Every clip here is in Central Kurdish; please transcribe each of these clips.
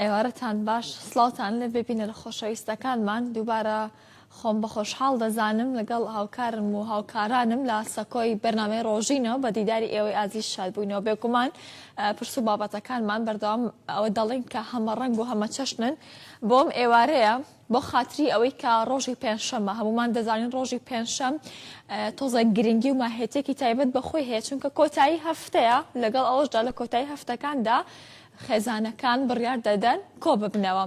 ئێوارەتان باش سلااوان لە ببینە لە خۆشەویستەکانمان دووبارە خۆم بە خۆشحاڵ دەزانم لەگەڵ هاوکارم و هاوکارانم لە سەکۆی بەرنمەی ڕۆژینەوە بە دیداری ئێوەی ئازیز شادبووینەوە بێگومان پرس و بابەتەکانمان بەردەوام ئەوە دەڵێن کە هەمە ڕنگ و هەمە چەشنن بۆم ئێوارەیە بۆ خاتری ئەوەی کە ڕۆژی پێنجشەمە هەمومان دەزانین ڕۆژی پێنجشەم تۆزە گرنگی و ماهێتێکی تایبەت بەخۆی هەیە چونکە کۆتایی هەفتەیە لەگەڵ ئەوەشدا لە کۆتایی هەفتەکاندا خێزانەکان بڕیار دەدەن کۆ ببنەوە.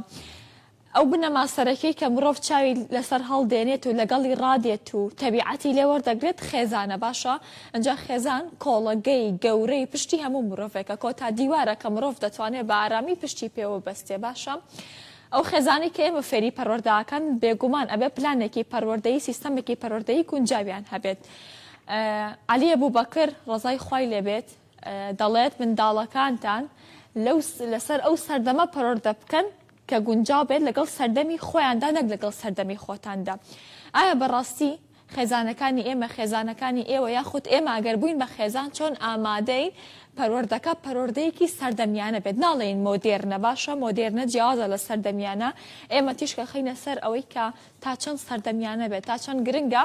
ئەو بنەما سەرەکەی کە مرۆڤ چاوی لەسەر هەڵدێنێت و لەگەڵی ڕادێت و تەبیعەتی لێ وەردەگرێت خێزانە باشە ئنجا خێزان کۆڵەگەی گەورەی پشتی هەموو مرۆڤێکە، کۆتا دیوارە کە مرۆڤ دەتوانێت بە ئارامی پشتی پێوە بەستێ، باشە ئەو خێزانەی کە ئێمە فێری پەروەردە ئەکەن بێگومان ئەبێ پلانێکی پەروەردەیی سیستەمێکی پەروەردەیی گونجاویان هەبێت. عەلی ئەبوبەکر ڕەزای خوای لێ بێت دەڵێت منداڵەکانتان لەو لەسەر ئەو سەردەمە پەروەردە بکەن کە گونجاو بێت لەگەڵ سەردەمی خۆیاندا نەک لەگەڵ سەردەمی خۆتاندا ئایا بەڕاستی خێزانەکانی ئێمە خێزانەکانی ئێوە یاخود ئێمە ئەگەر بووین بە خێزان چۆن ئامادەین پەروەردەکە پەروەردەیەکی سەردەمیانە بێت ناڵێین مۆدێرنە باشە مۆدێرنە جیاوازە لە سەردەمیانە ئێمە تیشکە خینە سەر ئەوەی کە تا چەند سەردەمیانە بێت تا چەند گرنگە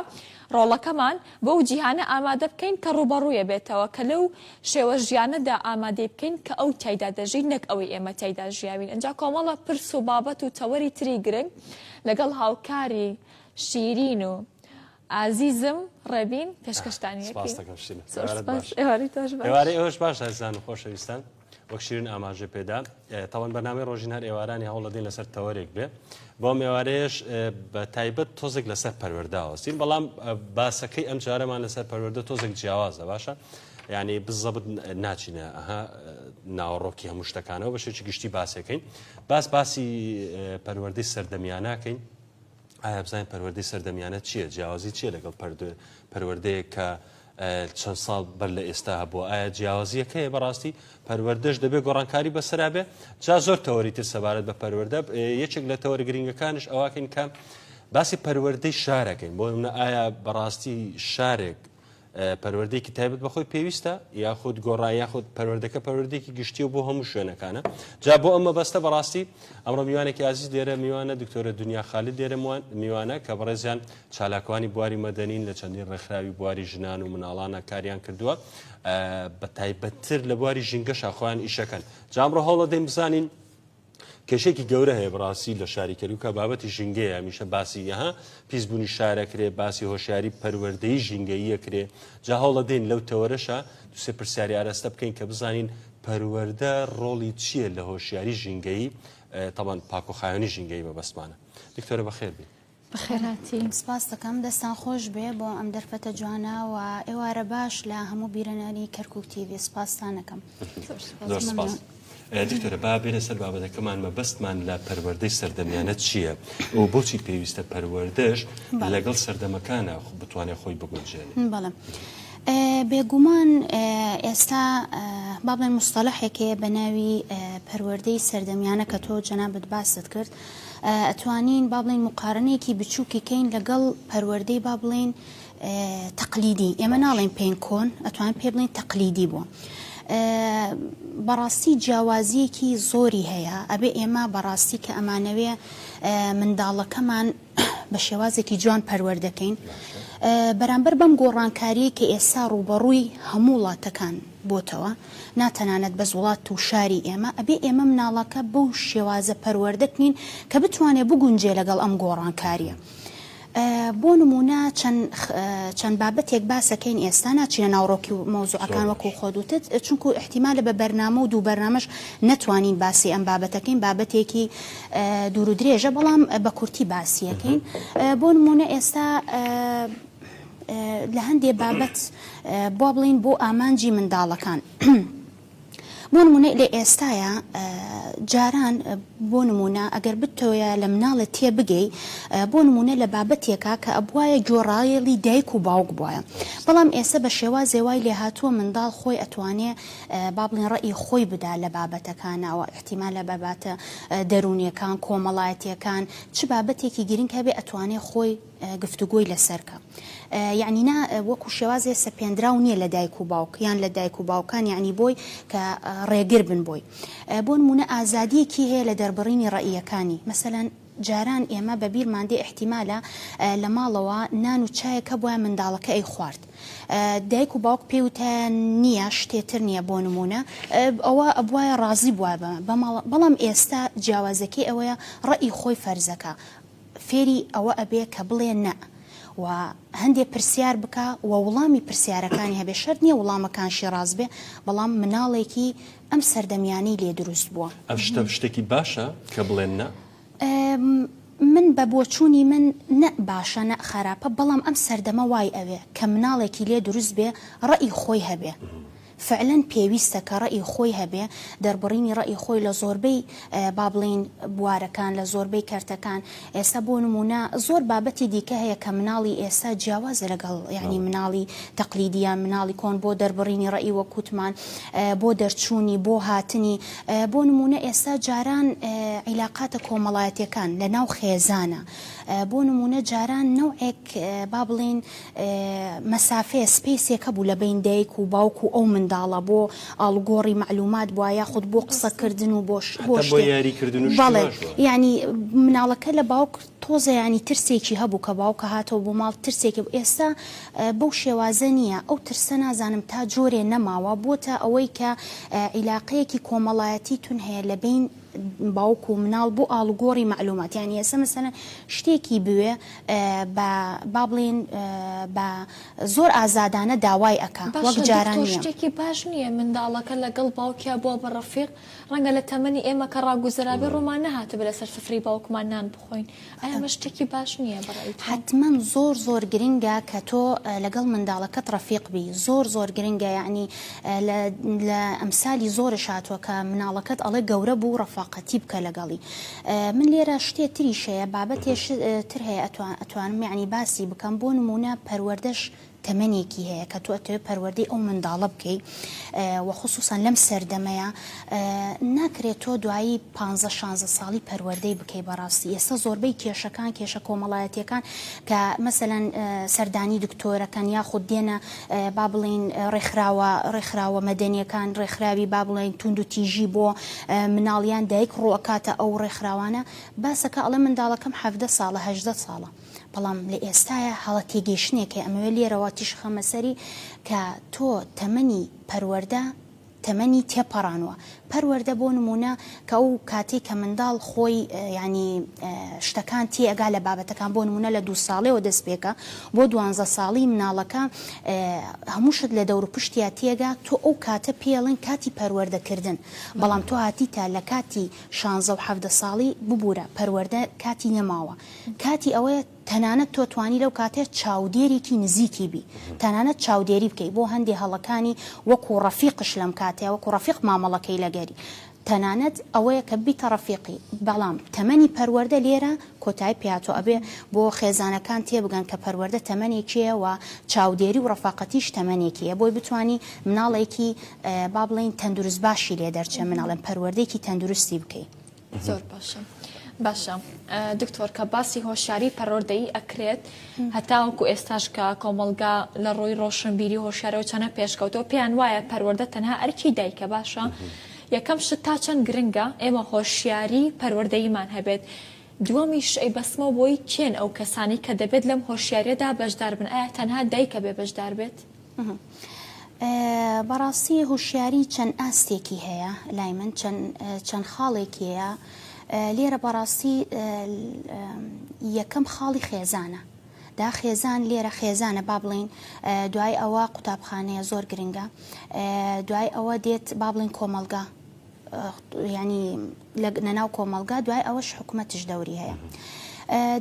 ڕۆڵەکەمان بەو جیهانە ئامادە بکەین کە ڕوبەڕوویە بێتەوە کە لەو شێوە ژیانەدا ئامادەی بکەین کە ئەو تایدا دەژین نەک ئەوەی ئێمە تایدا ژیاوین ئەجا کۆمەڵە پرس و بابەت و تەوەری تری گرنگ لەگەڵ هاوکاری شیرین و ئازیزم ڕێبین پێشکەشتانی ئێوارەش باش ئازان و خۆشەویستان وەک شیرین ئاماژە پێدا تاوان بەنامی ڕۆژین هەر ئێوارانی هەوڵەدین لەسەر تەوەرێک بێ بۆ مێوارەیەش بە تایبەت تۆزێک لەسەر پەروەداوەستین بەڵام باسەکەی ئەم جارەمان لەسەر پەروەدە تۆزێک جیاوازە باشە ینی بزەبت ناچینە ئەها ناوەڕۆکی هەموو شتەکانەوە بەشێکی گشتی باسەکەین باس باسی پەروەردەی سەردەمیانناکەین ئایا بزانین پەروەردەی سەردەمیانە چییە جیاوازی چیە لەگەڵ پەروەردەیە کە چەند ساڵ بەر لە ئێستا هەبووە ئایا جیاوازیەکەی بەڕاستی پەروەردەش دەبێت گۆڕانکاری بەسەرابێ جا زۆر تەوەری تر سەبارەت بە پەروەەردە یەکێک لە تەوەری گرنگەکانش ئەواکەین کە باسی پەروەردەی شارەکەین بۆ منە ئایا بەڕاستی شارێک پەروەردەیەکی تایبەت بەخۆی پێویستە یاخود گۆڕا یاخود پەروەردەکە پەروەردێکی گشتی و بۆ هەموو شوێنەکانە جا بۆ ئەمە بەستە بەڕاستی ئەمڕۆ میوانێکی ئازیز دێرە میوانە دکتۆرە دنیا خالی دێرەوان میوانە کە بەڕێزیان چالاکوانی بواری مەدەنین لە چەندین ڕێکخراوی بواری ژنان و مناڵانە کاریان کردووە بە تایبەتتر لە بواری ژینگەشا خۆیان ئیشەکەن جامڕۆ هەوڵە دەیم بزانین کێشەیەکی گەورە هەیە بڕاستی لە شاری کەرکوکە بابەتی ژینگەیە هەمیشە باسی یەها پیسبوونی شارەکرێ باسی هۆشیاری پەروەردەی ژینگەییە کرێ جا هەوڵە دێن لەو تەوەرەشە دوسێ پرسیاری ئاراستە بکەین کە بزانین پەروەەردە ڕۆڵی چییە لە هۆشیاری ژینگەیی تاوان پاکۆخایانی ژینگەی بەبستمانە دکتۆرە بەخێربێ بەخێرهاتی. سپاس دەکەم دەستان خۆش بێ بۆ ئەم دەرفەتە جوانە و ئێوارە باش لە هەموو بیرەنەری کەرکوک تیڤی سپاستان دەکەم. زۆر سپاس. دکتۆرە با بێنە سەر بابەتەکەمان مەبەستمان لە پەروەردەی سەردەمیانە چییە و بۆچی پێویستە پەروەردەش لەگەڵ سەردەمەکانە بتوانێت خۆی بگونجێنێت؟ بەڵێ. بێگومان ئێستا با بڵێین مستەڵەحێک هەیە بە ناوی پەروەردەی سەردەمیانە کە تۆ جەنابت باست کرد ئەتوانین با بڵێین موقارەنەیەکی بچووکی کەین لەگەڵ پەروەردەی با بڵێین تەقلیدی ئێمە ناڵێن پێین کۆن ئەتوان پێ بڵین تەقلیدی بوو بەڕاستی جیاوازیەکی زۆری هەیە ئەبێ ئێمە بەڕاستی کە ئەمانەوێ منداڵەکەمان بە شێوازێکی جوان پەروەردەکەین بەرامبەر بەم گۆڕانکاریەی کە ئێسا ڕووبەڕووی هەموو وڵاتەکان بۆتەوە نا تەنانەت بەس وڵات و شاری ئێمە ئەبێ ئێمە مناڵەکە بەو شێوازە پەروەردەکنین کە بتوانێ بگونجێ لەگەڵ ئەم گۆڕانکاریە بۆ نمونە چەند بابەتێک باسەکەین ئێستا ناچینە ناوڕۆکی و مۆزوعەکان وەکو خۆدوتت چونکو احتیمالە بە بەرنامە و دوو بەرنمەش نەتوانین باسی ئەم بابەتەکەین بابەتێکی دوور و درێژە بەڵام بە کورتی باسیەکەین بۆ نمونە ئێستا لە هەندێ بابەت بۆ بڵین بۆ ئامانجی منداڵەکان. بۆ نمونە لە ئێستاە جاران بۆ نمونە ئەگەر بتەوەە لە مناڵێت تێ بگەی بۆ نمونە لە بابەتێکە کە ئەبواە گۆڕایەڵی دایک و باوک بواە بەڵام ئێستا بە شێوا زێوای لێهاتووە منداڵ خۆی ئەتوانێ بابلین ڕێی خۆی بدا لە بابەتەکانەوە ئیحتیمالە بابەتە دەروونیەکان، کۆمەڵایەتیەکان، چ بابەتێکی گرینگ هەبێ ئەتوانێ خۆی گفتوگۆی لەسەر کا. یەعنی نا وەکو شێوازێ سەپێندراو نیە لە دایک و باوک یان لە دایک و باوکان یەعنی بۆی کە ڕێگر بن بۆی. بۆنموونە ئازادیەکی هەیە لە دەربڕینی ڕەئیەکانی. مەسەلەن. جاران ئێمە بە بیرمان دێ ئیحتیمالە لە ماڵەوە نان و چایەک هەبوایە منداڵەکە ئەیخوارد دایک و باوک پێی وتایە نییە شتێ تر نییە بۆ نموونە ئەوا ئەبوایە ڕازی بوایە بە بە ماڵە بەڵام ئێستا جیاوازەکەی ئەوەیە ڕەئی خۆی فەرزەکە فێری ئەوە ئەبێ کە بڵێ نە و هەندێ پرسیار بکا و وڵامی پرسیارەکانی هەبێ شەرت نییە وڵامەکانشی ڕاست بێ بەڵام مناڵێکی ئەم سەردەمیانەی لێ دروست بووە. ئەم شتە شتێکی باشە کە بڵێن نا؟ من بە بۆچوونی من نە باشە نە خەراپە بەڵام ئەم سەردەمە وای ئەوێ کە مناڵێکی لێ دروست بێ ڕەئی خۆی هەبێ فعلەن پێویستە کە ڕەئی خۆی هەبێ دەربڕینی ڕەئی خۆی لە زۆربەی با بڵێین بوارەکان لە زۆربەی کەرتەکان ئێستا بۆ نموونە زۆر بابەتی دیکە هەیە کە مناڵی ئێستا جیاوازە لەگەڵ یانی مناڵی تەقلیدی یان مناڵی کۆن بۆ دەربڕینی ڕەئی وەک وتمان بۆ دەرچوونی بۆ هاتنی بۆ نموونە ئێستا جاران عیلاقاتە کۆمەڵایەتیەکان لە ناو خێزانە بۆ نموونە جاران نەوعێک با بڵێین مەسافەیە سپەیسێکە بوو لە بەین دایک و باوک و ئەو منداڵە بۆ ئاڵوگۆڕی مەعلومات بوە یاخود بۆ قسە کردن و بۆ شت بۆ شتێ بەڵێ یانی مناڵەکە لە باوک تۆزە ینی ترسێکی هەبوو کە باوکە هاتەوە بۆ ماڵ ترسێکی بوو ئێستا بەو شێوازە نییە ئەو ترسە نازانم تا جۆرێ نەماوە بۆتە ئەوەی کە عیلاقەیەکی کۆمەڵایەتی تون هەیە لە بین باوک و مناڵ بۆ ئاڵوگۆڕی مەعلومات یعنی ئێستا مەسەلەن شتێکی بوێ بە با بڵێن بە زۆر ئازادانە داوای ئەکا وەک باشە جاران دکتۆر نییە شتێکی باش نییە منداڵەکە لەگەڵ باوکیا بووە بە ڕەفیق ڕەنگە لە تەمەنی ئێمە کە ڕاگوزەرابێ ڕوومان نەهاتبێ لەسەر سفرەی باوکمان نان بخۆین ئایا ئەمە شتێکی باش نییە بە ڕای تۆ؟ حەتمەن زۆر زۆر گرنگە کە تۆ لەگەڵ منداڵەکەت ڕەفیق بی زۆر زۆر گرنگە یەعنی لە لە ئەمسالی زۆرش هاتووە کە مناڵەکەت ئەڵێ گەورە بوو ڕەفاقەتی بکە لەگەڵی من لێرە شتێ تریش هەیە بابەتێ تر هەیە ئەتوان ئەتوانم یەعنی باسی بکەم بۆ نموونە پەروەردەش تەمەنێکی هەیە کە تۆ ئەتەوێت پەروەردەی ئەو منداڵە بکەی و خصوصا لەم سەردەمەیا ناکرێت تۆ دوایی پانزە شانزە ساڵی پەروەردەی بکەی بەڕاستی ئێستا زۆربەی کێشەکان کێشە کۆمەڵایەتیەکان کە مەسەلەن سەردانی دکتۆرەکەن یاخود دێنە با بڵین ڕێکخراوە ڕێکخراوە مەدەنیەکان ڕێکخراوی با بڵین توند و تیژی بۆ مناڵیان دایک ڕوەکاتە ئەو ڕێکخراوانە باسەکە ئەڵێ منداڵەکەم حەڤدە ساڵە هەژدە ساڵە بەڵام لە ئێستایا هەڵە تێگەیشتنێکە ئەمەوێ لێرەوە تیشک خەمە سەری کە تۆ تەمەنی پەروەردە تەمەنی تێپەڕانوە پەروەردە بۆ نمونە کە ئەو کاتەی کە منداڵ خۆی یانی شتەکان تێئەگا لە بابەتەکان بۆ نمونە لە دوو ساڵێەوە دەست پێکە بۆ دوانزە ساڵی مناڵەکە هەموو شت لە دەور پشتیا تێگا تۆ ئەو کاتە پێڵێن کاتی پەروەردەکردن بەڵام تۆ هاتیتە لە کاتی شانزە و حەڤدە ساڵی ببورە پەروەردە کاتی نەماوە کاتی ئەوەیە تەنانەت تۆ توانی لەو کاتەیە چاودێرێکی نزیکی بی تەنانەت چاودێری بکەی بۆ هەندێ هەڵەکانی وەکو ڕەفیقش لەم کاتەیە وەکو ڕەفیق مامەڵەکەی لەگەری تەنانەت ئەوەیە کە بیتە ڕەفیقی بەڵام تەمەنی پەروەردە لێرە کۆتای پیاتۆ ئەبێ بۆ خێزانەکان تێبگەن کە پەروەردە تەمەنێکیە و چاودێری و ڕەفاقەتیش تەمەنێکیە بۆی بتانی مناڵێکی با بڵێین تەندروست باشی لێ دەرچێ مناڵێن پەروەردەیەکی تەندروستی بکەی. زۆر باشە باشە دکتۆر کە باسی هۆشاری پەرۆردەی ئەکرێت هەتاوەکو ئێستاش کە کۆمەلگا لە ڕووی ڕۆشنبیری هۆشارەوە چەنە پێشکەوتەوە پێیان وایە پەروەەردە تەنها ئەرکی دایکە باشە یەکەم شت تا چەند گرنگە ئێمە هۆشیاری پەروەردەیمان هەبێت دووەمیش ئەی بەسمە بۆی کێن ئەو کەسانی کە دەبێت لەم هۆشیارەدا بەشدار بن ئایا تەنها دایکە بێ بەشدار بێت؟ بەڕاستی هوشیاری چەند ئاستێکی هەیە لای من چەند خاڵێکیەیە لێرە بەڕاستی یەکەم خاڵی خێزانە دا خێزان لێرە خێزانە با بڵین دوای ئەوە قوتابخانەیە زۆر گرنگە دوای ئەوە دێت با بڵین کۆمەلگا ینی لە ناو کۆمەڵگا دوای ئەوەش حکومەتش دەوری هەیە.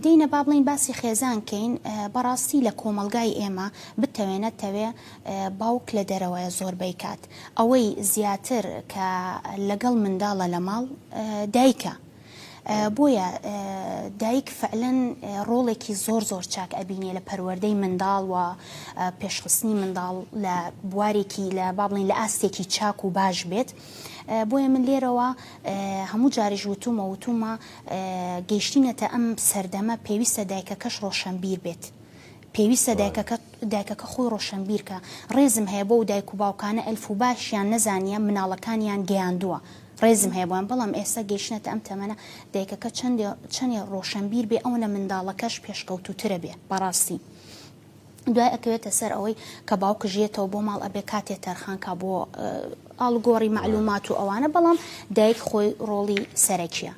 دینە با بڵین باسی خێزان کەین بەڕاستی لە کۆمەلگای ئێمە بتەوێ نەتەوێ باوک لە دەرەوەە زۆربەی کات ئەوەی زیاتر کە لەگەڵ منداڵە لە ماڵ دایکە بۆیە دایک فعلەن ڕۆڵێکی زۆر زۆر چاک ئەبینێ لە پەروەەردەی منداڵ و پێشخستنی منداڵ لە بوارێکی لە بابڵین لە ئاستێکی چاک و باش بێت بۆیە من لێرەوە هەموو جاریش وتووم و وتوومە گەیشتینەتە ئەم سەردەمە پێویستە دایکەکەش ڕۆشەنبیر بێت. پێویستە دایکەکە دایکەکە خۆی ڕۆشەنبیرکە ڕێزم هەیە بۆ و دایک و باوکانە ئەلف و باشیان نەزانیە مناڵەکانیان گەیاندووە ڕێزم هەیە بۆیان بەڵام ئێستا گەیشتنەتە ئەم تەمەە دایکەکە چەندێ چەنێ ڕۆشەنبیر بێ ئەوەنە منداڵەکەش پێشکەوتوترە بێ بەڕاستی. دوای ئەکەوێتە سەر ئەوەی کە باوکش یەتەوە بۆ ماڵ ئەبێ کاتێ تەرخان کا بۆ ئاڵوگۆڕی مەعلومات و ئەوانە بەڵام دایک خۆی ڕۆڵی سەرەکیە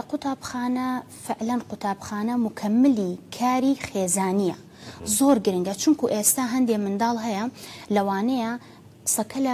قوتابخانە فعلەن قوتابخانە مکملی کاری خێزانیە زۆر گرنگە چونکو ئێستا هەندێ منداڵ هەیە لەوانەیە قسەکە لە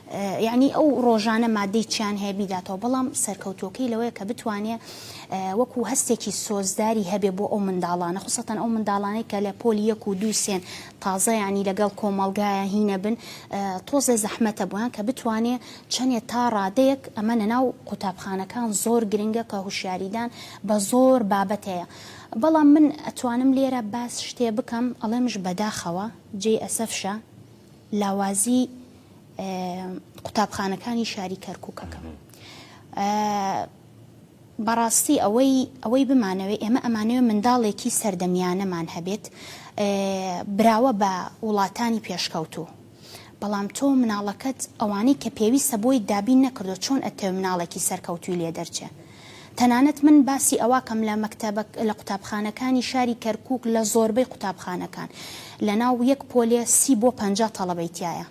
یەعنی ئەو ڕۆژانە ماددەی چیان هەیە بیداتەوە، بەڵام سەرکەوتووەکەی لەوەیە کە بتوانێ وەکوو هەستێکی سۆزداری هەبێ بۆ ئەو منداڵانە، خوسەتەن ئەو منداڵانەی کە لە پۆلی یەک و دوو سێن تازە یەعنی لەگەڵ کۆمەڵگایە هی نەبن، تۆزێ زەحمەتە بۆیان کە بتوانێ چەنێ تا ڕادەیەک ئەمە لە ناو قوتابخانەکان زۆر گرنگە کە هوشیاریدان بە زۆر بابەت هەیە. بەڵام من ئەتوانم لێرە باس شتێ بکەم ئەڵێمش بەداخەوە جێی ئەسەفشە، لاوازیی قوتابخانەکانی شاری کەرکووکەکەم. بەڕاستی ئەوەی ئەوەی بمانەوێ ئێمە ئەمانەوێ منداڵێکی سەردەمیانەمان هەبێت براوە بە وڵاتانی پێشکەوتوو. بەڵام تۆ مناڵەکەت ئەوانەی کە پێویستە بۆی دابین نەکردووە، چۆن ئەتەوێ مناڵێکی سەرکەوتووی لێ دەرچێ؟ تەنانەت من باسی ئەواکەم لە مەکتەبە لە قوتابخانەکانی شاری کەرکوک لە زۆربەی قوتابخانەکان لە ناو یەک پۆلێ سی بۆ پەنجا تەڵەبەی تیایە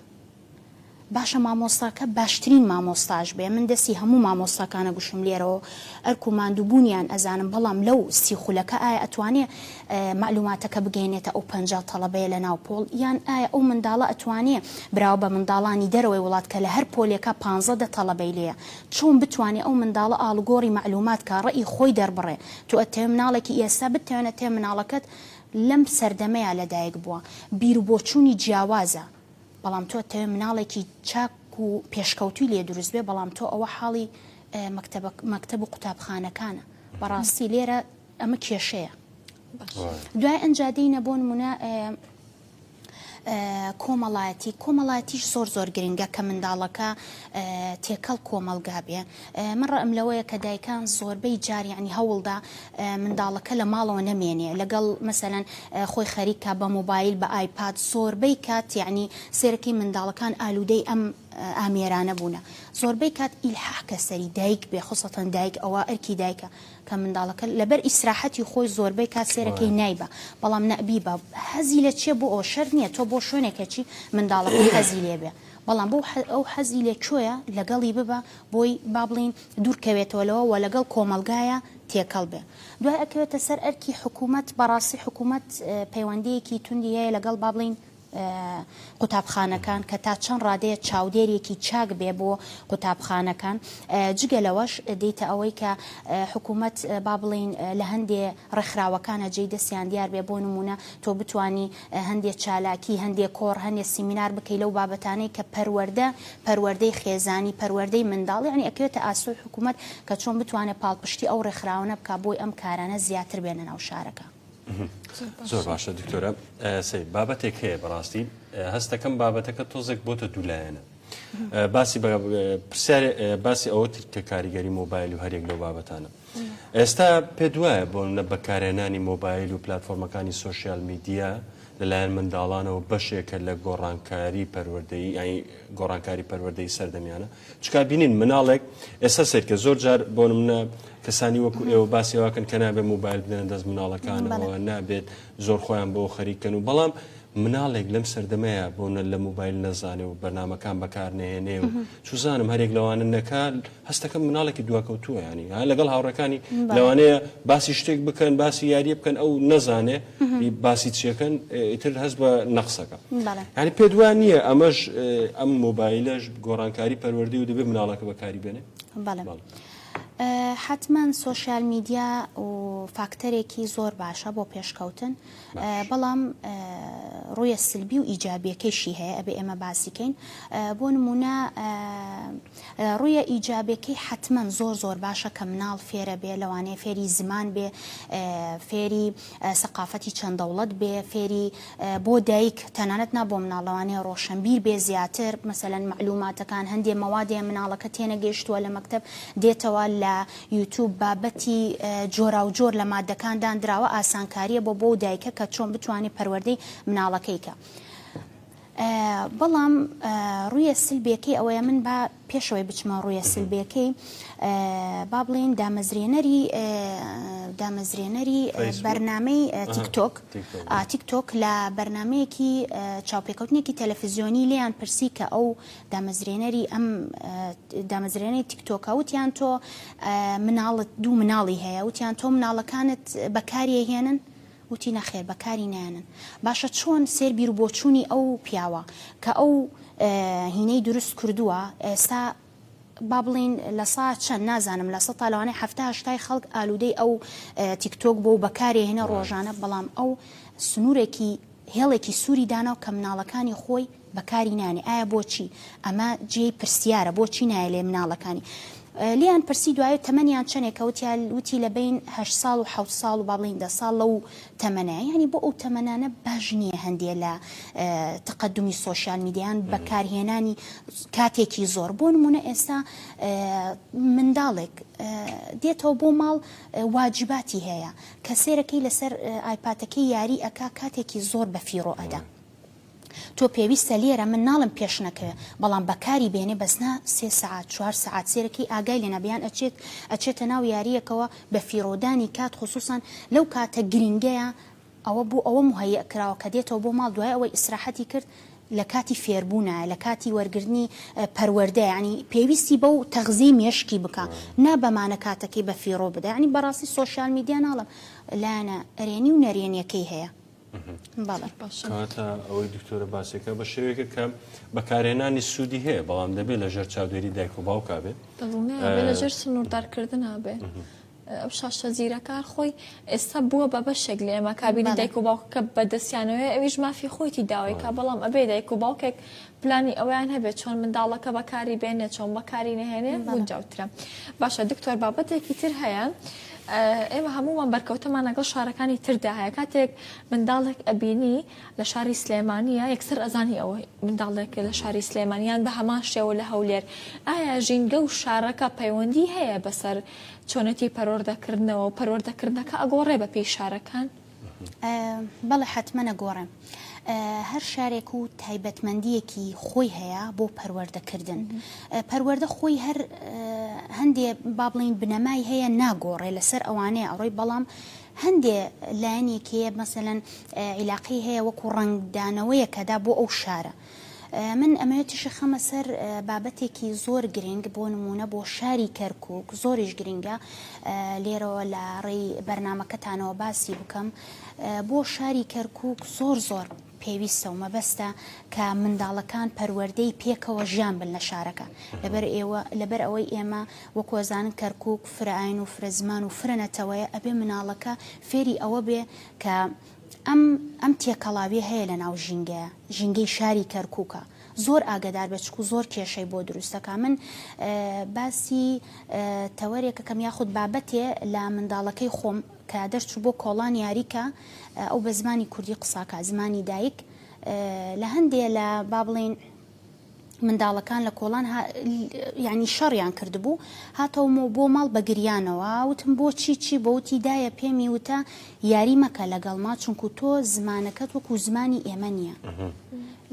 باشە مامۆستاکە باشترین مامۆستاش بێ من دەسی هەموو مامۆستاکانە گوشم لێرەوە ئەرک و ماندوو بوونیان ئەزانم بەڵام لەو سی خولەکە ئایا ئەتوانێ مەعلوماتەکە بگەینێتە ئەو پەنجا تەڵەبەیە لە ناو پۆڵ یان ئایا ئەو منداڵە ئەتوانێ براوە بە منداڵانی دەرەوەی وڵات کە لە هەر پۆلێکا پانزە دە تەڵەبەی لێیە چۆن بتوانێ ئەو منداڵە ئاڵوگۆڕی مەعلومات کا ڕەئی خۆی دەربڕێ تۆ ئەتەوێ مناڵێکی ئێستا بتەوێن ئەتەوێ مناڵەکەت لەم سەردەمەیا لەدایک بووە بیروبۆچوونی جیاوازە بەڵام تۆ ئەتەوێ مناڵێکی چاک و پێشکەوتووی لێ دروست بێ بەڵام تۆ ئەوە حاڵی مەکتەبە مەکتەب و قوتابخانەکانە بەڕاستی لێرە ئەمە کێشەیە دوای ئەنجا دێینە بۆ نموونە کۆمەڵایەتی کۆمەڵاتیش زۆر زۆر گرنگە کە منداڵەکە تێکەڵ کۆمەلگا بێ من ڕم لەوەیە کە دایکان زۆربەی جاریانی هەوڵدا منداڵەکە لە ماڵەوە نەمێنێ لەگەڵ مەسەەن خۆی خەریکە بە مۆبایل بە ئایپات زۆربەی کات یعنی سێرەکەی منداڵەکان ئالوودەی ئەم ئامێرانە بوونە زۆربەی کات ئیلحاح کە سەری دایک بێ خۆسەتەن دایک ئەوە ئەرکی دایکە کە منداڵەکە لەبەر ئیسراحەتی خۆی زۆربەی کات سێرەکەی نایبا بەڵام نەبیبا حەزی لە چیە بۆ ئەوە شەرت نیە تۆ بۆ شوێنێکەچی منداڵەکە حەزی لێبێ بەڵام بۆ ئەو حەزی لە کوێە لەگەڵی ببە بۆی با بڵین دوورکەوێتەوە لەوە وە لەگەڵ کۆمەڵگایە تێکەڵ بێ دوای ئەکەوێتە سەر ئەرکی حکومەت بەڕاستی حکومەت پەیوەندیەکی توندی هەیە لەگەڵ با بڵین قوتابخانەکان کە تا چەند ڕادەیە چاودێرێکی چاک بێ بۆ قوتابخانەکان جگە لەوەش دێیتە ئەوەی کە حکوومەت با بڵێین لە هەندێ ڕێکخراوەکانە جێی دەستیان دیار بێ بۆ نموونە تۆ بتانی هەندێ چالاکی هەندێ کۆڕ هەندێ سیمینار بکەی لەو بابەتانەی کە پەروەردە پەروەردەی خێزانی پەروەردەی منداڵ یانی ئەکەوێتە ئاسۆی حکوومەت کە چۆن بتوانێت پاڵپشتی ئەو ڕێکخراوانە بکا بۆی ئەم کارانە زیاتر بێنە ناو شارەکە. زۆر باشە دکتۆرە سەی بابەتێک هەیە بەڕاستی هەستەکەم بابەتەکە تۆزێک بۆتە دوولایەنە باسی پرسیار باسی ئەوە تر کە کاریگەری مۆبایل و هەرێک لەو بابەتانە ئێستا پێ دوایە بۆ نە بەکارێنانی مۆبایل و پلتفۆرمەکانی سوسیال میدیا لەلایەن منداڵانەوە بەشێکە لە گۆڕانکاری پەروەردەی گۆڕانکاری پەروەردەی سەردەمیانە چکا بینین مناڵێک ئێستا سەیرکە زۆر جار بۆ منە کەسانی وەکو ئێوە باسی واکەن کە نابێت موبایل بدەن دەست مناڵەکانەوە نابێت زۆر خۆیان بۆ خەریکەن و بەڵام مناڵێک لەم سەردەمەیە بۆ نە لە موبایل نەزانێ و بەنامەکان بەکار نێنێ و چوزانم هەرێک لەوانە نەکە هەستەکە مناڵێکی دواکەوتووە ینی ها لەگەڵ هاوڕەکانی لەوانەیە باسی شتێک بکەن باسی یاریە بکەن ئەو نەزانێ باسی چیەکەن ئیتر هەست بە نەقسەکە ینی پێدوان نییە ئەمەش ئەم مۆبایلەش گۆڕانکاری پەروەردەی و دەبێت مناڵەکە بەکاری بێنێ حتمما سوۆسیال میدیا و فاکتەرێکی زۆر باشە بۆ پێشکەوتن بەڵام ڕویە سلبی و ئیجابیەکەیشی هەیە ئەبێ ئێمە باسیکەین بۆ نمونە ڕویە ئیجابەکەی حتمما زۆر زۆر باشە کە مناڵ فێرە بێ لەوانەیە فێری زمان بێ فێری سەقافەتی چەند دەوڵەت بێ فێری بۆ دایک تەنانەت نا بۆ مناڵ لەوانەیە ڕۆشەنبیر بێ زیاتر مەسەلەن مەعلوماتەکان هەندێ مەوادێ مناڵەکە تێنەگەیشتووە لە مەکتەب دێتەوە لە یوتوب بابەتی جۆراوجۆر لە مادەکان داندراوە ئاسانکاریە بۆ بۆ دایکە کە چۆن بتوانێت پەروەردەی مناڵەکەی کە بەڵام ڕویە سلبێکی ئەوەیە من با پێشەوەی بچمە ڕوویە سلبیەکەی با بڵێین دامەزرێنەری دامەزرێنەری بەرنمەی تیکتۆک تیکتۆک لە بەرنمەیەکی چاوپێکەوتنێکی تەلەفزیۆنی لیان پرسی کە ئەو دامەزرێنەری ئەم دامەزرێنەی تیکتۆکە وتیان تۆ مناڵت دوو مناڵی هەیە وتیان تۆ مناڵەکانت بەکاریە هێنن وتی نەخێر بەکاری نایەنن. باشە چۆن سێر بیرو بۆچوونی ئەو پیاوە کە ئەو هینەی دروست کردووە ئێستا با بڵین لە سا چەند نازانم لە سەتا لەوانەیە حەفتا هەشتای خەڵک ئالوودەی ئەو تیکتۆک بۆ و بەکارێ هێنە ڕۆژانە بەڵام ئەو سنوورێکی هێڵێکی سووری داناو کە مناڵەکانی خۆی بەکاری نانێ ئایا بۆچی؟ ئەمە جێی پرسیارە بۆچی نایە لێ مناڵەکانی لیان پرسی دوایە تەمەنیان چەنێک کەوتیا وتی لە بین هە ساڵ و حوت ساڵ و باڵین دە ساڵ لەو تەمەە ینی بۆ ئەو تەمەنانە باش نییە هەندێ لە تقدمی سوۆسیال میدیان بەکارهێنانی کاتێکی زۆر بۆ نمونە ئێستا منداڵێک دێتەوە بۆ ماڵ واجباتی هەیە کە سێرەکەی لەسەر ئایپاتەکەی یاری ئەک کاتێکی زۆر بەفیڕۆ ئەدا. تۆ پێویستە لێرە من ناڵێم پێش نەکەوێ بەڵام بەکاری بێنێ بەس نا سێ سەعات چوار سەعات سێرە کەی ئاگای لێ نابێ یان ئەچێت ئەچێتە ناو یاریەکەوە بە فیڕۆدانی کات خوسوسان لەو کاتە گرینگەیا ئەوە بۆ ئەوە موهەیئ کراوە کە دێتەوە بۆ ماڵ دوای ئەوەی ئیسراحەتی کرد لە کاتی فێربوونایە لە کاتی وەرگرتنی پەروەردەیە یانی پێویستی بەو تەغزیەی مێشکی بکا نا بەمانە کاتەکەی بە فیڕۆ بدە یانی بەڕاستی سۆشیال میدیا ناڵێم لایەنە ئەرێنی و نەرێنیەکەی هەیە. کاتە ئەوەی دکتۆرە باسێکە بە شێوێکە کە بەکارێنانی سوودی هەیە بەڵام دەبێت لە ژێر چادێری دایک و باوکا بێت لە ژێر سنووردارکردن نابێ. ئەو شاشە زیرەکار خۆی ئێستا بووە بە بەشێک لە ئێمە کابینی دایک و باوکەکە بەدەستیانەوەی ئەویش مافی خۆیتی داوای کا بەڵام ئەبێ دایک و باوکێک پلانی ئەوەیان هەبێ چۆن منداڵەکە بەکاری بێنێ چۆن بەکاری نەهێنێ گونجاوترە باشە دکتۆر بابەتێکی تر هەیە ئێمە هەمووان بەرکەوتەمان لەگەڵ شارەکانی تردا هەیە کاتێک منداڵێک ئەبینی لە شاری سلێمانە یەکسەر ئەزانی ئەوە منداڵێک لە شاری سلێمانیان بە هەمان شێوە لە هەولێر ئایا ژینگە و شارەکە پەیوەندی هەیە بەسەر چۆنەتی پەرۆردەکردنەوە پەروەردەکردنەکە ئەگۆڕێ بە پێی شارەکان؟ بەڵێ حەتمەن ئەگۆڕێم. هەر شارێک و تایبەتمەندیەکی خۆی هەیە بۆ پەروەردەکردن. پەروەەردە خۆی هەر هەندێ با بڵین بنەمای هەیە ناگۆڕێ لەسەر ئەوانەیە ئەوڕۆی بەڵام هەندێ لایەنێکەیە مەسەەن عیلاقی هەیە وەکو ڕنگدانەوەیەکەدا بۆ ئەو شارە. من ئەمەوێت تیشک خەمە سەر بابەتێکی زۆر گرنگ بۆ نمونە بۆ شاری کەرکک زۆریش گرنگە لێرەوە لە ڕێی بەرنمەکەتانەوە باسی بکەم بۆ شاری کەرکک زۆر زۆر پێویستە و مەبەستە کە منداڵەکان پەروەردەی پێکەوە ژیان بن لە شارەکە لەبەر ئێوە لەبەر ئەوەی ئێمە وەکۆزان کەرکک فرائین و فرە زمان و فرە نەتەوەیە ئەبێ مناڵەکە فێری ئەوە بێ کە ئەم ئەم تێکەڵاویە هەیە لە ناو ژینگەیە ژینگەی شاری کەرکوکە زۆر ئاگەدار بە چکو زۆر کێشەی بۆ دروستەکە من باسی تەوەرێکەکەم یاخود بابەتێ لە منداڵەکەی خۆم کە دەرچوو بۆ کۆڵان یاریکە ئەو بە زمانی کوردی قساکە زمانی دایک لە هەندێ لە با بڵین منداڵەکان لە کۆڵان ها یانی شەڕیان کردبوو هاتەومەوە بۆ ماڵ بە گریانەوە وتم بۆ چی چی بۆ وتی دایە پێمی وتە یاری مەکە لەگەڵ ما چونکو تۆ زمانەکەت وەکو زمانی ئێمە نییە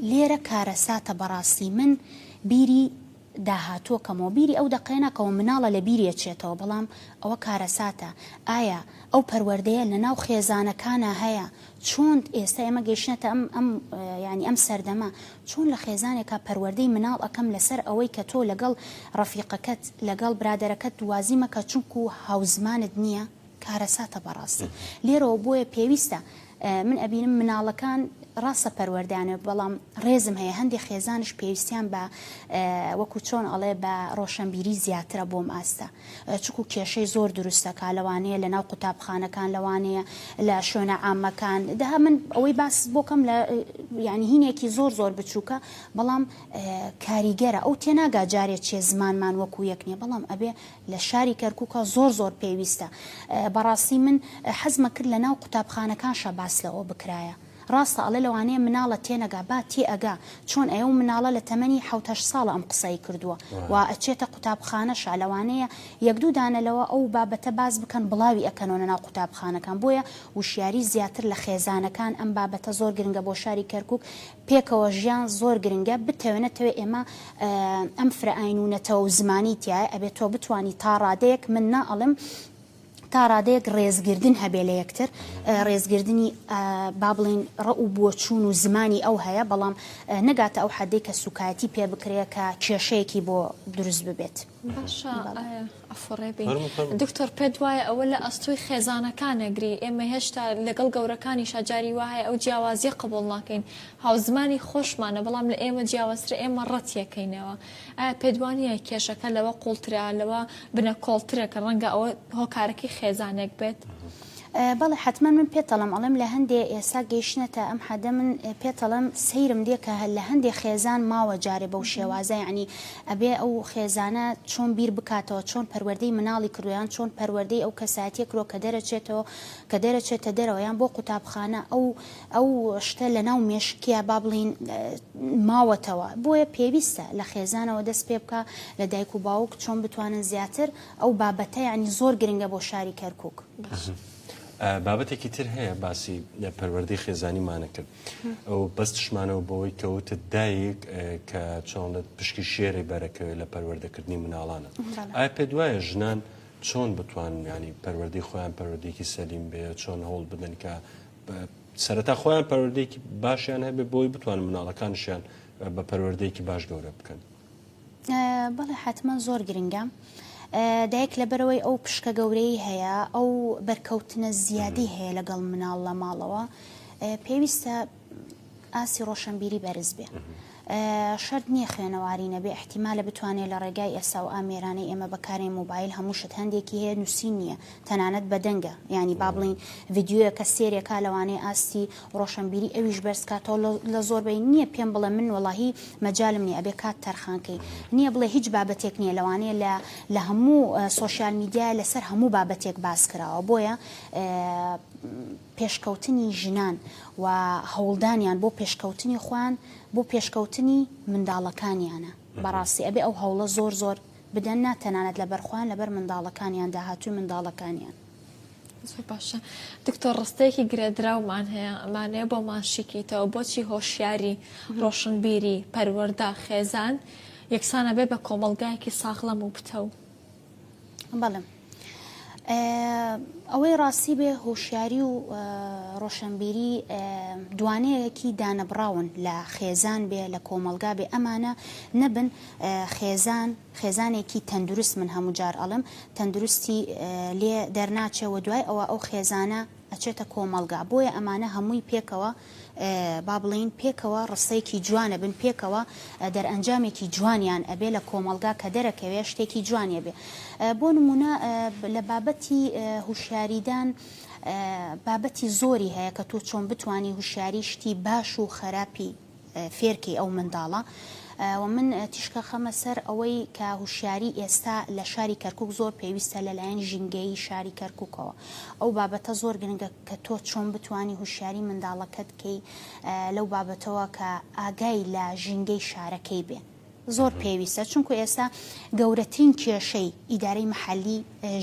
لێرە کارەساتە بەڕاستی من بیری داهاتوە کەمەوە بیری ئەو دەقەیە ناکەەوە مناڵە لە بیریە چێتەوە بەڵام ئەوە کارەساتە ئایا ئەو پەروەردەیە لە ناو خێزانەکانە هەیە چۆن ئێستا ئێمە گەیشتنەتە ئەم ئەم یانی ئەم سەردەمە چۆن لە خێزانێکا پەروەردەی مناڵ ئەکەم لەسەر ئەوەی کە تۆ لەگەڵ ڕەفیقەکەت لەگەڵ برادەرەکەت دوازی مەکە چونکو هاوزمانت نیە کارەساتە بەڕاستی لێرەوە بۆیە پێویستە من ئەبینم مناڵەکان ڕاستە پەروەردەیانە بەڵام ڕێزم هەیە هەندێک خێزانش پێویستیان بە وەکو چۆن ئەڵێ بە ڕۆشەنبیری زیاترە بۆم ئاستە چونکوو کێشەی زۆر دروست دەکا لەوانەیە لەناو قوتابخانەکان لەوانەیە لە شوێنە عامەکان دەها من ئەوەی باس بۆکەم لە یعنی هینێکی زۆر زۆر بچووکە بەڵام کاریگەرە ئەو تێناگا جارێ چێ زمانمان وەکو یەک نیە بەڵام ئەبێ لە شاری کەرکووکە زۆر زۆر پێویستە بەڕاستی من حەزمە کرد لە ناو قوتابخانەکانشە باس لەوە بکرایە ڕاستە ئەڵێ لەوانەیە مناڵە تێنەگا با تێ ئەگا چۆن ئەیەو مناڵە لە تەمەنی حەوت هەشت ساڵە ئەم قسەی کردووە و ئەچێتە قوتابخانەشا لەوانەیە یەک دوو دانە لەوە ئەو بابەتە باس بکەن بڵاوی ئەکەنەوە لە ناو قوتابخانەکان بۆیە وشیاری زیاتر لە خێزانەکان ئەم بابەتە زۆر گرنگە بۆ شاری کەرکوک پێکەوە ژیان زۆر گرنگە بتەوێ نەتەوێ ئێمە ئەم فرە ئاین و نەتەوە و زمانی تیایە ئەبێ تۆ بتوانی تا ڕادەیەک من نا ئەڵێم تا ڕادەیەک ڕێزگردن هەبێ لە یەکتر، ڕێزگردنی با بڵێین ڕەء و بۆچوون و زمانی ئەو هەیە، بەڵام نەگاتە ئەو حەددەی کە سووکایەتی پێ بکرێ کە کێشەیەکی بۆ دروست ببێت. باشە ئەفەڕێ بێین. فەرموو فەرموو. دکتۆر پێت وایە ئەوە لە ئەستۆی خێزانەکان ئەگری، ئێمە هێشتا لەگەڵ گەورەکانیشا جاری وا هەیە ئەو جیاوازییە قبووڵ ناکەین، هاوزمانی خۆشمانە بەڵام لە ئێمە جیاوازترە ئێمە ڕەتیەکەینەوە، ئایا پێتوانییە کێشەکە لەوە قوڵترە، لەوە بنەکۆڵترە کە ڕەنگە ئەوە هۆکارەکەی خێزانێک بێت؟ بەڵێ حەتمەن من پێتەڵەم ئەڵێم لە هەندێ ئێسا گەیشتنەتە ئەم حەدە من پێتەڵەم سەیرم دێ کە لە هەندێ خێزان ماوە جارێ بەو شێوازە یعنی ئەبێ ئەو خێزانە چۆن بیر بکاتەوە چۆن پەروەردەی مناڵی کردوە یان چۆن پەروەردەی ئەو کەساتیە کرۆ کە دەرەچێتەوە کە دەرەچێتە دەرەوە یان بۆ قوتابخانە ئەو ئەو شتە لەناو مێشکیا با بڵێین ماوەتەوە بۆیە پێویستە لە خێزانەوە دەست پێ بکا لە دایک و باوک چۆن بتوانن زیاتر ئەو بابەتە یعنی زۆر گرنگە بۆ شاری کەرکک. بابەتێکی تر هەیە باسی پەروەردەی خێزانی مانەکرد ئەو بەستشمانەوە بەوەی کەوتت دایک کە چۆنت پشکی شێری بەرەکەوێت لە پەروەردەکردنی مناڵانە ئایا پێ دوایە ژنان چۆن بتوان ینی پەروەردەی خۆیان پەروەردێکی سەلیم بێ چۆن هەوڵ بدەن کە سەرەتا خۆیان پەروەردەیەکی باشیان هەبێت بۆی بتوان مناڵەکانشیان بە پەروەردەیەکی باش گەورە بکەن بەڵێ حتمما زۆر گرنگە دایک لەبەرەوەی ئەو پشکە گەورەی هەیە ئەو بەرکەوتنە زیادی هەیە لەگەڵ مناڵ لە ماڵەوە پێویستە ئاستی ڕۆشەنبیری بەرز بێ. شەرت نییە خوێنەواری نەبێ، ئیحتیمالە بتوانێ لە ڕێگای ئێسا و ئامێرانەی ئێمە بەکارێن موبایل هەموو شت هەندێکی هەیە نووسین نییە تەنانەت بە دەنگە یانی با بڵێین ڤیدیۆیە کە سێرێ کا لەوانەیە ئاستی ڕۆشەنبیری ئەویش بەرز کاتەوە لە لە زۆربەی نییە پێم بڵێ من وەڵاهی مەجالم نییە ئەبێ کات تەرخان کەی نییە بڵێ هیچ بابەتێک نییە لەوانەیە لە لە هەموو سۆشیال میدیایە لەسەر هەموو بابەتێک باس کراوە بۆیە پێشکەوتنی ژنان و هەوڵدانیان بۆ پێشکەوتنی خۆیان بۆ پێشکەوتنی منداڵەکانیانە بەڕاستی ئەبێ ئەو هەوڵە زۆر زۆر بدەن نا تەنانەت لەبەر خۆیان لەبەر منداڵەکانیان داهاتووی منداڵەکانیان. زۆر باشە دکتۆر ڕستەیەکی گرێدراومان هەیە ئەمانەیە بۆ ماشیکیتەوە بۆچی هۆشیاری ڕۆشنبیری پەروەەردە خێزان یەکسانە بێ بە کۆمەلگایەکی ساغڵەم و پتەو. بەڵێ ئەوەی ڕاستی بێ هۆشیاری و ڕۆشنبیری دوانەیەکی دانەبراون لە خێزان بێ لە کۆمەلگا بێ ئەمانە نەبن خێزان خێزانێکی تەندروست من هەموو جار ئەڵم تەندروستی لێ دەرناچێ و دوای ئەوە ئەو خێزانە ئەچێتە کۆمەڵگا بۆیە ئەمانە هەمووی پێکەوە با بڵێین پێکەوە ڕستەیەکی جوان ئەبن پێکەوە دەرئەنجامێکی جوانیان ئەبێ لە کۆمەڵگا کە دەرەکەوێ شتێکی جوانی ئەبێ بۆ نموونە لە بابەتی هوشیاریدان بابەتی زۆری هەیە کە تۆ چۆن بتوانی هوشیاری شتی باش و خەراپی فێرکەی ئەو منداڵە وە من تیشکە خەمە سەر ئەوەی کە هوشیاری ئێستا لە شاری کەرکک زۆر پێویستە لەلایەن ژینگەیی شاری کەرککەوە ئەو بابەتە زۆر گرنگە کە تۆ چۆن بتانی هوشیاری منداڵەکەت کەی لەو بابەتەوە کە ئاگای لە ژینگەی شارەکەی بێ. زۆر پێویستە چونکو ئێستا گەورەترین کێشەی ئیدارەی محلی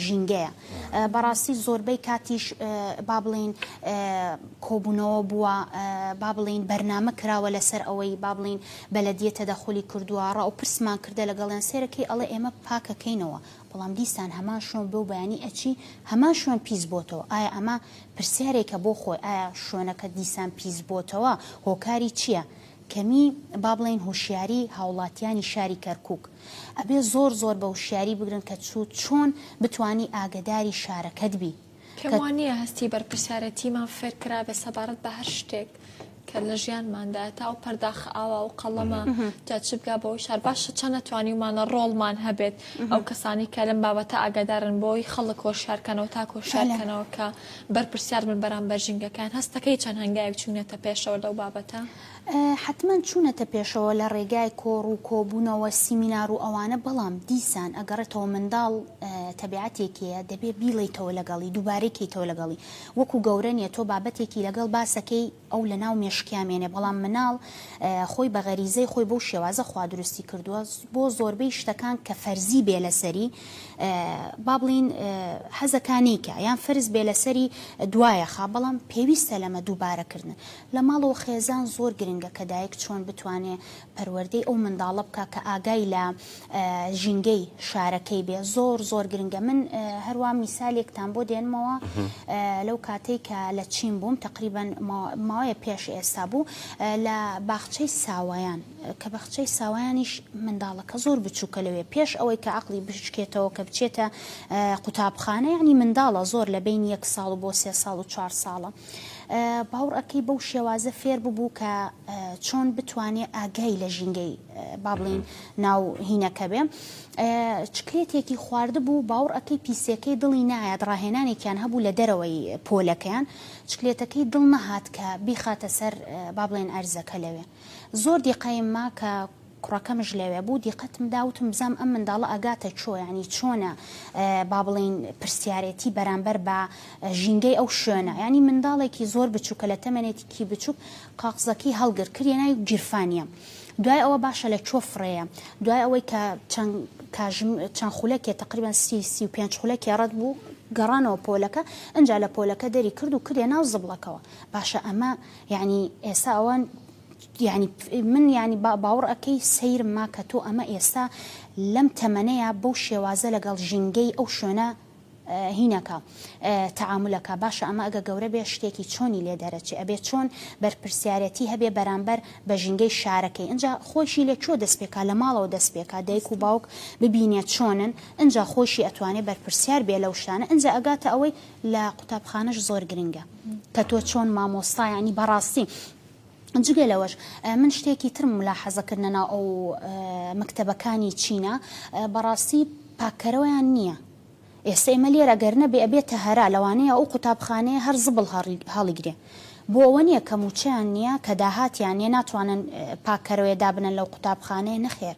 ژینگەیە بەڕاستی زۆربەی کاتیش با بڵین کۆبوونەوە بووە با بڵین بەرنامە کراوە لەسەر ئەوەی با بڵین بەلەدیە تەدەخلی کردووە ڕاو پرسمان کردە لەگەڵیان سێرەکەی ئەڵێ ئێمە پاکەکەینەوە بەڵام دیسان هەمان شوێن بۆ بەیانی ئەچی هەمان شوێن پیس بۆتەوە ئایا ئەمە پرسیارێکە بۆ خۆی ئایا شوێنەکە دیسان پیس بۆتەوە هۆکاری چییە؟ کەمی با بڵێین هۆشیاری هاوڵاتیانی شاری کەرکوک ئەبێ زۆر زۆر بە وشیاری بگرن کە چو چۆن بتوانی ئاگەداری شارەکەت بی پێم کە. وانییە هەستی بەرپرسیارەتیمان فێرکرابێ سەبارەت بە هەر شتێک کە لە ژیانماندایە تا ئەو پەرداخە ئاوا و قەڵەمە جا چ بگا بەوەی شار باشە چەند نەتوانیومانە ڕۆڵمان هەبێت ئەو کەسانەی کە لەم بابەتە ئاگادارن بۆی خەڵک هۆشیارکەنەوە تاکۆ بەلام. هۆشیارکەنەوە کە بەرپرسیار بن بەرامبەر ژینگەکەیان، هەستدەکەی چەند هەنگاوێک چوونەتە پێشەوە لەو بابەتە؟ حەتمەن چوونەتە پێشەوە لە ڕێگای کۆڕ و کۆبوونەوە، سیمینار و ئەوانە، بەڵام دیسان ئەگەڕێتەوە منداڵ تەبیعەتێکیە دەبێ بیڵێیتەوە لەگەڵی، دووبارەی کەیتەوە لەگەڵی، وەکو گەورە نیە تۆ بابەتێکی لەگەڵ باسەکەی، ئەو لە ناو مێشکیا مێنێ بەڵام مناڵ خۆی بە غەریزەی خۆی بەو شێوازە خوا دروستی کردووە بۆ زۆربەی شتەکان کە فەرزی بێ لەسەری با بڵین حەزەکا نیکە یان فەرز بێ لەسەری دوایە خا بەڵام پێویستە لەمە دووبارەکردن لە ماڵەوە خێزان زۆر گرنگە کە دایک چۆن بتوانێ پەروەردەی ئەو منداڵە بکە کە ئاگای لە ژینگەی شارەکەی بێ زۆر زۆر گرنگە من هەروە میسالێکتان بۆ دێنمەوە لەو کاتێک کە لە چین بووم تقریبان ماوەیە پێش ئێستا بوو لە باخچەی ساوایان کە بەخچەی ساوایانیش منداڵەکە زۆر بچووکە لەوێ پێش ئەوەی کە عقلی بچکێتەوە کە بچێتە قوتابخانە ینی منداڵە زۆر لە بین یەک ساڵ بۆ سێ ساڵ و چوار ساڵە باوڕ ئەکەی بەو شێوازە فێر ببوو کە چۆن بتوانێ ئاگای لە ژینگەی بابلین ناو هینەکە بێ چکلێتێکی خواردبوو باوڕ ئەەکەی پیسەکەی دڵی نایەت ڕاهێنانێکیان هەبوو لە دەرەوەی پۆلەکەیان چکلێتەکەی دڵ نەهات کە بیخاتە سەر بابلێن ئەرزەکە لەوێ زۆر دیقایم ما کە کوڕەکەمش لەوێ بوو دیقەتم دا وتم بزانم ئەم منداڵە ئەگاتە چۆ یانی چۆنە با بڵێین پرسیارێتی بەرامبەر بە ژینگەی ئەو شوێنە یانی منداڵێکی زۆر بچووکە لە تەمەنێتی کی بچووک قاقزەکەی هەڵگر کریە ناوی گیرفانیە دوای ئەوە باشە لە چۆ فڕێیە دوای ئەوەی کە چەند کاژم چەند خولەکێ تقریبا سی سی و پێنج خولەکێ ڕەت بوو گەڕانەوە پۆلەکە ئەجا لە پۆلەکە دەری کرد و کریە ناو زبڵەکەوە باشە ئەمە یانی ئێسا ئەوان یانی من یانی با باوڕ ئەکەی سەیرم ما کە تۆ ئەمە ئێستا لەم تەمەنەیا بەو شێوازە لەگەڵ ژینگەی ئەو شوێنە هینەکە تەعامولەکە باشە ئەمە ئەگە گەورە بێ شتێکی چۆنی لێ دەرەچێ ئەبێ چۆن بەرپرسیارەتی هەبێ بەرامبەر بە ژینگەی شارەکەی ئینجا خۆشی لە کوێ دەست پێکا لە ماڵەوە دەست پێکا دایک و باوک ببینێ چۆنن ئینجا خۆشی ئەتوانێ بەرپرسیار بێ لەو شتانە ئینجا ئەگاتە ئەوەی لە قوتابخانەش زۆر گرنگە کە تۆ چۆن مامۆستا یانی بەڕاستی جگە لەوەش من شتێکی ترم مولاحەزە کرد لەناو ئەو مەکتەبەکانی چینە بەڕاستی پاککەرەوەیان نییە ئێستا ئێمە لێرە گەر نەبێ ئەبێتە هەرا لەوانەیە ئەو قوتابخانەیە هەر زبڵ هەڵیگرێ بۆ ئەوە نییە کە موچەیان نییە کە داهاتیان نیە ناتوانن پاککەرەوەێ دابنن لەو قوتابخانەیە نەخێر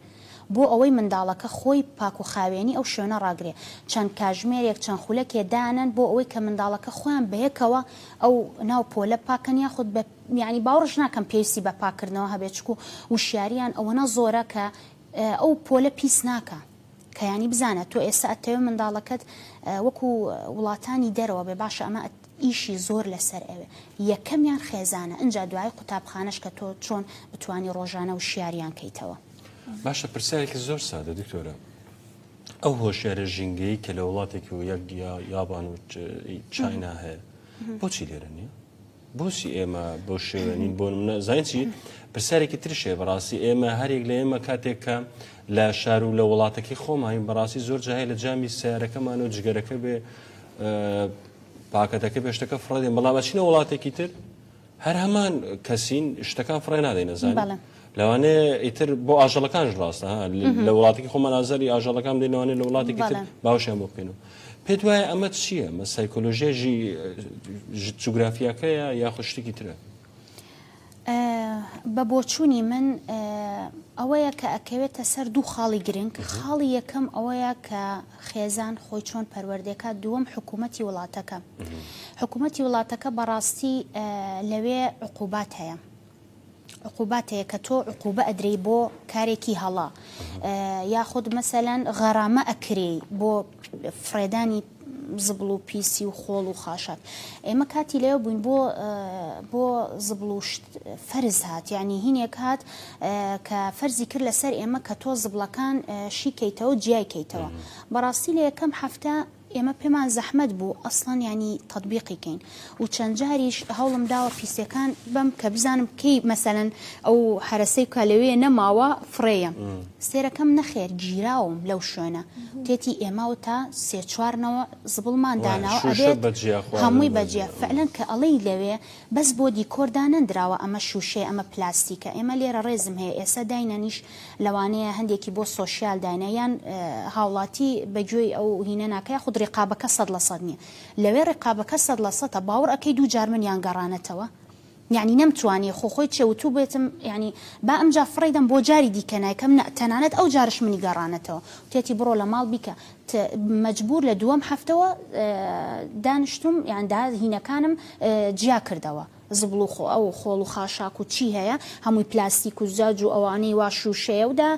بۆ ئەوەی منداڵەکە خۆی پاک و خاوێنی ئەو شوێنە ڕاگرێ چەند کاژمێرێک چەند خولەکێ دانەن بۆ ئەوەی کە منداڵەکە خۆیان بەیەکەوە ئەو ناو پۆلە پاکەن یاخود بە یانی باوڕش ناکەم پێویستی بە پاکردنەوە هەبێ چکو وشیاریان ئەوەنە زۆرە کە ئەو پۆلە پیس ناکا کە یانی بزانە تۆ ئێستا ئەتەوێ منداڵەکەت وەکو وڵاتانی دەرەوە بێ باشە ئەمە ئیشی زۆر لەسەر ئەوێ یەکەمیان خێزانە ئنجا دوایی قوتابخانەش کە تۆ چۆن بتوانی ڕۆژانە وشیاریان کەیتەوە. باشە پرسیارێکی زۆر سادە دکتۆرە ئەو هۆشیارە ژینگەیی کە لە وڵاتێکی و یەک یا یابان و چاینا هەیە بۆچی لێرە نییە؟ بۆچی ئێمە بۆ شێوێنین بۆ منە زانچی پرسیارێکی ترشێ بەڕاستی ئێمە هەرێک لە ئێمە کاتێک کە لە شار و لە وڵاتەکەی خۆماین بەڕاستی زۆر جاهی لە جامی سیارەکەمان و جگەرەکە بێ پاکەتەکە بێ شتەکە فڕێدەین بەڵام ئەچینە وڵاتێکی تر هەر هەمان کەسین شتەکان فڕێ نادەین نەزانین بەڵێ لەوانێ ئیتر بۆ ئاژەڵەکانش ڕاستە ها لە وڵاتێکی خۆمان ئازاری ئاژەڵەکان دێنەوانێ لە وڵاتێکی تر بەڵێ. باوشیان بۆ بکەین و پێت وایە ئەمە چییە مە سایکۆلۆژیای ژی جوگرافیاکەیە یاخود شتێکی ترە بە بۆچوونی من ئەوەیە کە ئەکەوێتە سەر دوو خاڵی گرنگ خاڵی یەکەم ئەوەیە کە خێزان خۆی چۆن پەروەردەکە دووەم حکوومەتتی وڵاتەکە حکوومەتتی وڵاتەکە بەڕاستی لەوێ عقوبات هەیە عقوباتەیە کە تۆ عقوبە ئەدرەی بۆ کارێکی هەڵا یاخود مەسەەن غەرامە ئەکرێ بۆ فرێدانی زبڵ و پیسی و خۆڵ و خاشاک ئێمە کاتی لێ بووین بۆ بۆ زبڵ و فەرز هات یعنی هینێک هات کە فەرزی کرد لەسەر ئێمە کە تۆ زبڵەکان شیکەیتەوە جیای کەیتەوە بەڕاستی لە یەکەم هەفتە ئێمە پێمان زەحمەت بوو ئەسڵەن ینی تطببیقی کەین و چەند جاریش هەوڵم داوە پیسەکان بم کە بزانم کەی مەسەەن ئەو هەرسەی کا لەوێ نەماوە فڕێە سێرەکەم نەخێر گیراوم لەو شوێنە تێتی ئێمە و تا سێ چوارنەوە زبڵمان داناوە هەمووی بەجێ فعلەن کە ئەڵەی لەوێ بەس بۆ دیکۆردانەندراوە ئەمە شوشەیە ئەمە پلاستیکە ئێمە لێرە ڕێزم هەیە ئێستا داینەنیش لەوانەیە هەندێکی بۆ سوۆسیال داینە یان هاوڵاتی بەگوێی ئەو هینە ناکە خودری قابەکە سەد لە سەد نیە لەوێ ڕیقابەکە سەد لە سەتە باوڕ ئەکەی دوو جار منیان گەڕانەتەوە یانی نەمتوانیە خۆ خۆی چێ وتوبێتم یانی با ئەمجا فڕێی دەم بۆ جاری دیکە نایکەم نە تەنانەت ئەو جارش منی گەڕانەتەوە وتێتی بڕۆ لە ماڵ بیکە ت مەجبور لە دووەم هەفتەوە دانشتوم یان دا هینەکانم جیا کردەوە زبڵ و خۆ ئەو خۆڵ و خاشاک و چی هەیە هەمووی پلاستیک و زجاج و ئەوانەی وا شوشەیە و دا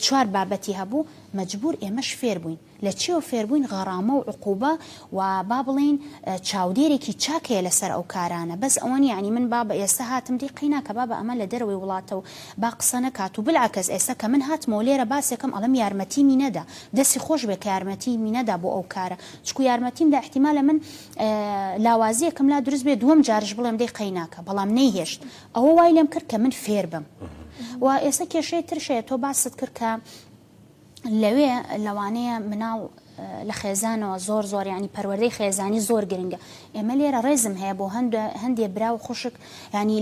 چوار بابەتی هەبوو مەجبور ئێمەش فێر بووین. لە چیەوە فێربووین غەڕامە و عقوبە و با بڵێین چاودێرێکی چاک هەیە لەسەر ئەو کارانە بەس ئەوە نیە یانی من بابە ئێستە هاتم دەی قەیناکە بابە ئەمە لە دەرەوەی وڵاتە و با قسە نەکات و بلعکس ئێستە کە من هاتمەوە لێرە باسێکەم ئەڵێم یارمەتیمی نەدا دەسی خۆش بێ کە یارمەتیمی نەدا بۆ ئەو کارە چکو یارمەتیم دا ئیحتیمالە من لاوازیەکم لا دروست بێ دووەم جارش بڵێم دەی قەیناکە بەڵام نەیهێشت ئەوە وای لێم کرد کە من فێربم و ئێستە کێشەی ترش هەیە تۆ باست کرد کە لەوێ لەوانەیە مناڵ لە خێزانەوە زۆر زۆر ینی پەروەردەی خێزانی زۆر گرنگە ئێمە لێرە ڕێزم هەیە بۆ هەند هەندێ برا و خوشک ینی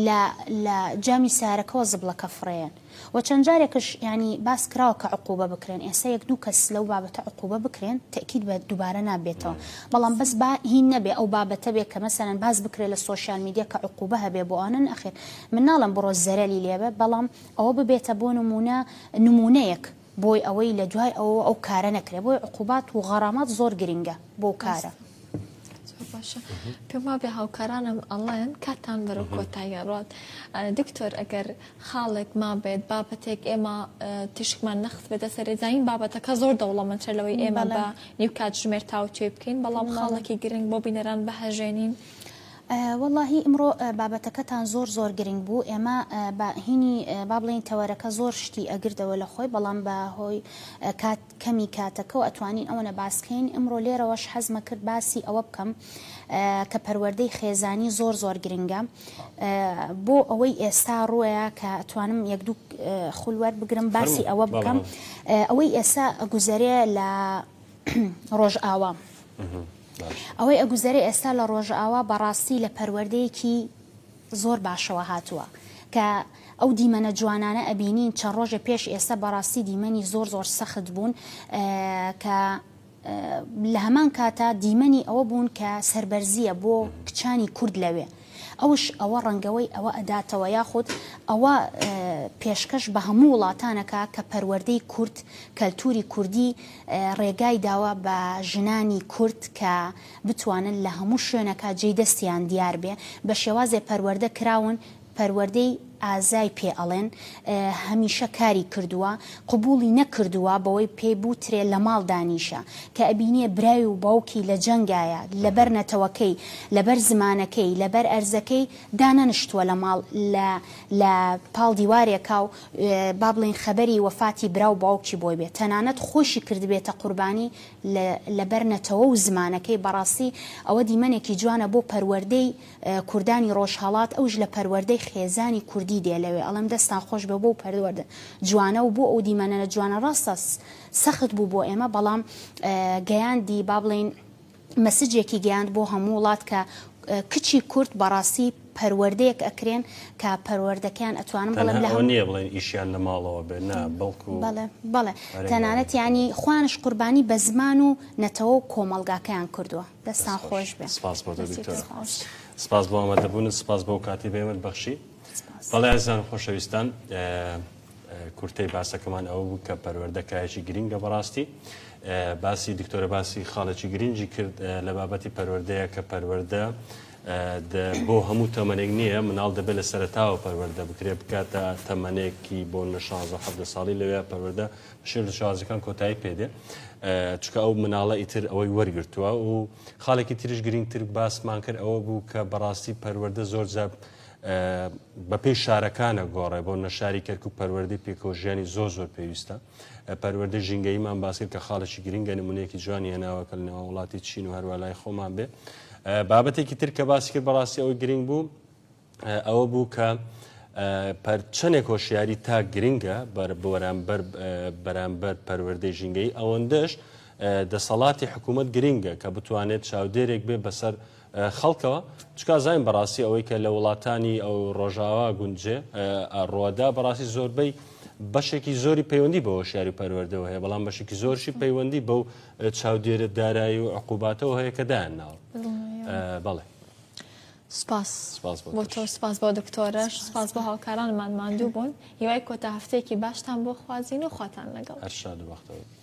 لە جامی سارەکەەوە زبڵەکە فڕێن و چەند جارێکش ینی باس کراوە کە عقوبە بکرێن ئێستا یەک دوو کەس لەو بابەتە عقوبە بکرێن تەکیید بە دووبارە نابێتەوە بەڵام بەس با هین نەبێ ئەو بابەتە بێ کە مەسەرەن باز بکرێت لە سوۆشال میدیا کە عقوبە هەبێ بۆ ئەنن ئەخێر من ناڵم بڕۆ زەرەلی لێبێ بەڵام ئەوە ببێتە بۆ نموونە نموونەیەک بۆی ئەوەی لە دوای ئەوەوە ئەو کارە نەکرێ بۆی عقوبات و غەڕامات زۆر گرنگە بۆ کارە. باشە پێم وابێ هاوکارانم ئەڵێن کاتان بەرە کۆتاییان ڕات دکتۆر ئەگەر خاڵێک مابێت بابەتێک ئێمە تیشکمان نەخت بێتە سەرێزانین بابەتەکە زۆر دەوڵەمەند چەر لەوەی ئێمە بە نیو کاتژمێر تاوتێ بکەین بەڵام خاڵێکی گرنگ بۆ بینەران بەهەژێنین. وەڵاهی ئمڕۆ بابەتەکەتان زۆر زۆر گرنگ بوو ئێمە با هینی با بڵێین تەوەرەکە زۆر شتی ئەگردەوە لە خۆی بەڵام بە هۆی کات کەمی کاتەکەو ئەتوانین ئەوەنە باس کەین ئمڕۆ لێرەوەش حەزمە کرد باسی ئەوە بکەم کە پەروەردەی خێزانی زۆر زۆر گرنگە بۆ ئەوەی ئێستا ڕوەیە کە ئەتوانم یەک دوو خول وەربگرم باسی ئەوە بکەم ئەوەی ئێسا گوزەرێ لە ڕۆژئاوام. ئەوەی ئەگوزەرێ ئێستا لە ڕۆژئاوا بەڕاستی لە پەروەردەیەکی زۆر باشەوە هاتووە کە ئەو دیمەنە جوانانە ئەبینین چەند ڕۆژە پێش ئێستا بەڕاستی دیمەنی زۆر زۆر سەخت بوون کە لە هەمان کاتا دیمەنی ئەوە بوون کە سربەرزیە بۆ کچانی کورد لەوێ ئەوش ئەوە ڕەنگەوەی ئەوە ئەداتەوە یاخود ئەوە پێشکەش بە هەموو وڵاتانەکا کە پەروەردەی کورد کەلتوری کوردی ڕێگای داوە بە ژنانی کورد کە بتوانن لە هەموو شوێنەکا جێی دەستیان دیار بێ بە شێوازێ پەروەردە کراون پەروەردەی ئازای پێ ئەڵێن هەمیشە کاری کردووە قبوڵی نەکردووە بەوەی پێی بوترێ لەماڵ دانیشە کە ئەبینێ برای و باوکی لە جەنگایە لەبەر نەتەوەکەی لەبەر زمانەکەی لەبەر ئەرزەکەی دانەنشتووە لە ماڵ لە لە پاڵ دیوارێکا و با بڵێین خەبەری وەفاتی برا و باوکی بۆی بێ تەنانەت خۆشی کردبێتە قوربانی لە لەبەر نەتەوە و زمانەکەی بەڕاستی ئەوە دیمەنێکی جوانە بۆ پەروەردەی کوردانی ڕۆژهەڵات ئەوش لە پەروەردەی خێزانی کوردی دێ لەوێ ئەڵێم دەستان خۆش بێ بۆو پەروەردە جوانە و بۆ ئەو دیمەنەە جوانە ڕاستە سەخت بوو بۆ ئێمە بەڵام گەیاندی با بڵین مەسجێکی گەیاند بۆ هەموو وڵات کە کچی کورد بەڕاستی پەروەردەیەک ئەکرێن کە پەروەردەکەیان ئەتوانم بڵێم لە نیە بڵێن ئیشیان لە ماڵەوە بێ نا بڵکو بڵێ بڵێ تەنانەتیانی خوانش قوربانی بە زمان و نەتەوە و کۆمەلگاکەیان کردووە دەستان خۆش بێ سپاس بۆ دکتۆر سپاس بۆ ئەمەدەبوون سپاس بۆ کاتی بێمت بەخشی بەڵێ ئازان خۆشەویستان کورتەی باسەکەمان ئەو بوو کە پەروەردەکایەکی گرنگە بەڕاستی باسی دکتۆرە باسی خاڵێکی گرنگی کرد لە بابەتی پەروەردەیە کە پەروەەردە بۆ هەموو تەمەێک نییە مناڵ دەبێت لە سەرتاوە پەروەەردە بکرێ بکاتە تەمەێکی بۆ نە 16 ساڵی لەوێ پەروەەردە شێر لە شازەکان کۆتایی پێدێ چکە ئەو مناڵە ئیتر ئەوەی وەرگتووە و خاڵێکی تریش گرنگتر باسمان کرد ئەوە بوو کە بەڕاستی پەروەەردە زۆر زاب بەپی شارەکانە گۆڕێ بۆ نەشاری کەرک و پەروەردەی پێکۆژیانی زۆر زۆر پێویستە پەروەردە ژینگەیمان باسکرد کە خاڵێکی گرنگە نمونەیەکی جوانی هێناوەکە لەنەوە وڵاتی چین و هەروە لای خۆمان بێ بابەتێکی تر کە باسی کرد بەڕاستی ئەوەی گرنگ بوو ئەوە بوو کە چەندێک هۆشیاری تاک گرنگە بەرامبەر پەروەردەی ژینگەی ئەوەندەش دەسەڵاتی حکوومەت گرنگە کە بتوانێت چاودێرێک بێ بەسەر خەڵکەوە چکا زین بەڕاستی ئەوەی کە لە وڵاتانی ئەو ڕۆژاوا گونجێ ڕۆدا بەڕاستی زۆربەی بەشێکی زۆری پەیوەندی بە هۆشیاری و پەروەردەوە هەیە بەڵام بەشێکی زۆرشی پەیوەندی بەو چاودێرە دارایی و عقوباتەوە هەیە کە دایان ناوە بەڵێ سپاس بۆ تۆش سپاس بۆ دکتۆرەش سپاس بۆ هاوکارانمان ماندوو بوون هیوای کۆتا هەفتەیەکی باشتان بۆ خوازین و خواتان لەگەڵ هەر شاد و بەختەوەر